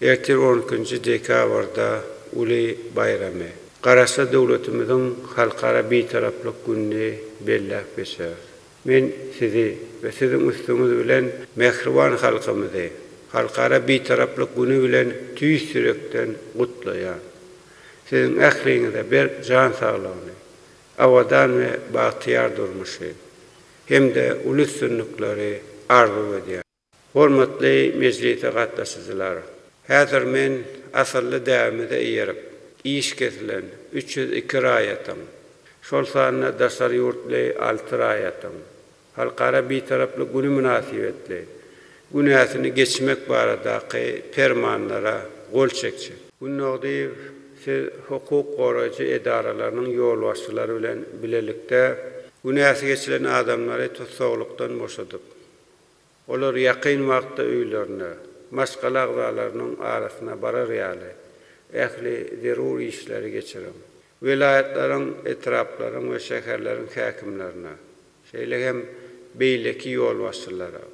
Ertir on ikinji dekabrda uly baýramy, Garaşsyz döwletimiziň Halkara Bitaraplyk gününi belläp geçeris. Men sizi we siziň üstüňiz bilen mähriban halkymyzy Halkara Bitaraplyk güni bilen tüýs ýürekden gutlaýan. Siziň ähliňize berk jan saglygyny, abadan we bagtyýar durmuşy hem-de uly üstünlikleri arzuw edýän. Hormatly mejlise gatnaşyjylar! Häzir men asylly däbimize eýerip, iş kesilen üç ýüz iki raýatyň, şol sanda daşary ýurtly alty raýatyň Halkara Bitaraplyk güni mynasybetli günäsini geçmek baradaky Permanlara gol çekjek. Gunnogdyýew, siz hukuk goraýjy edaralarynyň ýolbaşçylary bilen bilelikde günäsi geçilen adamlary tussaglykdan boşadyp, Olar ýakyn wagtda öýlerine, maşgala agzalarynyň arasyna barar ýaly, ähli zerur işleri geçiriň. Welaýatlaryň, etraplaryň we şäherleriň häkimlerine, şeýle hem beýleki ýolbaşçylara,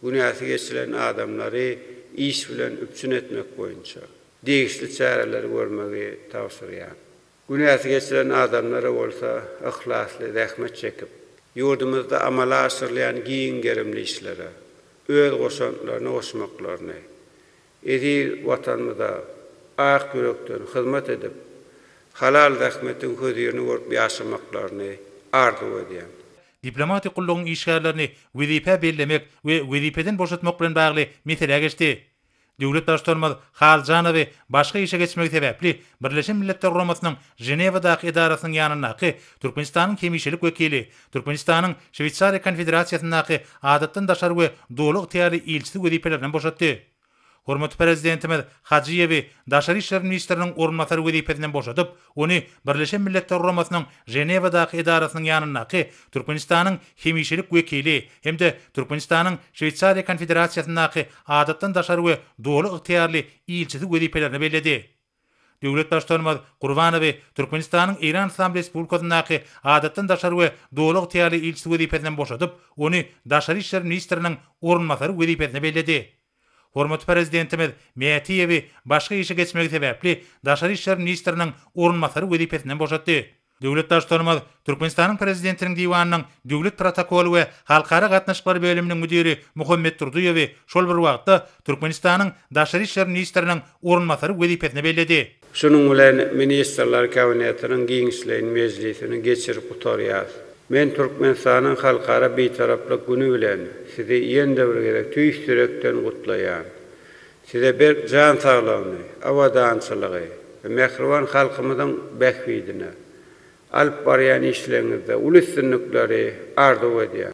günäsi geçilen adamlary iş bilen üpjün etmek boýunça degişli çäreleri görmegi tabşyrýan. Günäsi geçilen adamlara bolsa yhlasly zähmet çekip, ýurdumyzda amala aşyrylýan giň gerimli işlere öz goşantlaryny goşmaklaryny, eziz Watanymyza ak ýürekden hyzmat edip, halal zähmetiň hözirini görüp ýaşamaklaryny arzuw edýän. Diplomatik gullugyň işgärlerini wezipä bellemek we wezipeden boşatmak bilen bagly meselä geçdi. Döwlet Baştutanymyz Haljanowy başga işe geçmegi sebäpli Birleşen Milletler Guramasynyň Ženewadaky edarasynyň ýanyndaky Türkmenistanyň hemişelik wekili, Türkmenistanyň Şweýsariýa Konfederasiýasyndaky Adatdan daşary we Doly ygtyýarly ilçisi wezipelerinden boşatdy. Hormatly Prezidentimiz Hajyýewi daşary işler ministriniň orunbasary wezipesinden boşadyp, Ony Birleşen Milletler Guramasynyň Ženewadaky edarasynyň ýanyndaky Türkmenistanyň hemişelik wekili hem-de Türkmenistanyň Şweýsariýa Konfederasiýasyndaky Adatdan daşary we Doly ygtyýarly ilçisi wezipelerine belledi. Döwlet Baştutanymyz Gurbanowy Türkmenistanyň Eýran Yslam Respublikasyndaky Adatdan daşary we Doly ygtyýarly ilçisi wezipesinden boşadyp, ony Daşary işler ministriniň orunbasary wezipesine belledi. Hormatly Prezidentimiz Mätiýewi başga işe geçmegi sebäpli Daşary işler ministriniň orunbasary wezipesinden boşatdy. Döwlet Baştutanymyz Türkmenistanyň Prezidentiniň Diwanynyň Döwlet protokoly we halkara gatnaşyklary bölüminiň müdiri Muhammet Durdyýewi şol bir wagtda Türkmenistanyň Daşary işler ministriniň orunbasary wezipesine belledi. Şunuň bilen Ministrler Kabinetiniň giňişleýin mejlisini geçirip gutarýarys. Men Türkmenistanyň Halkara Bitaraplyk güni bilen Sizi ýene-de bir gezek tüýs ýürekden gutlaýan. Size berk jan saglygyny, abadançylygy we mähriban halkymyzyň bähbidine alyp barýan işleriňizde uly üstünlikleri arzuw edýän.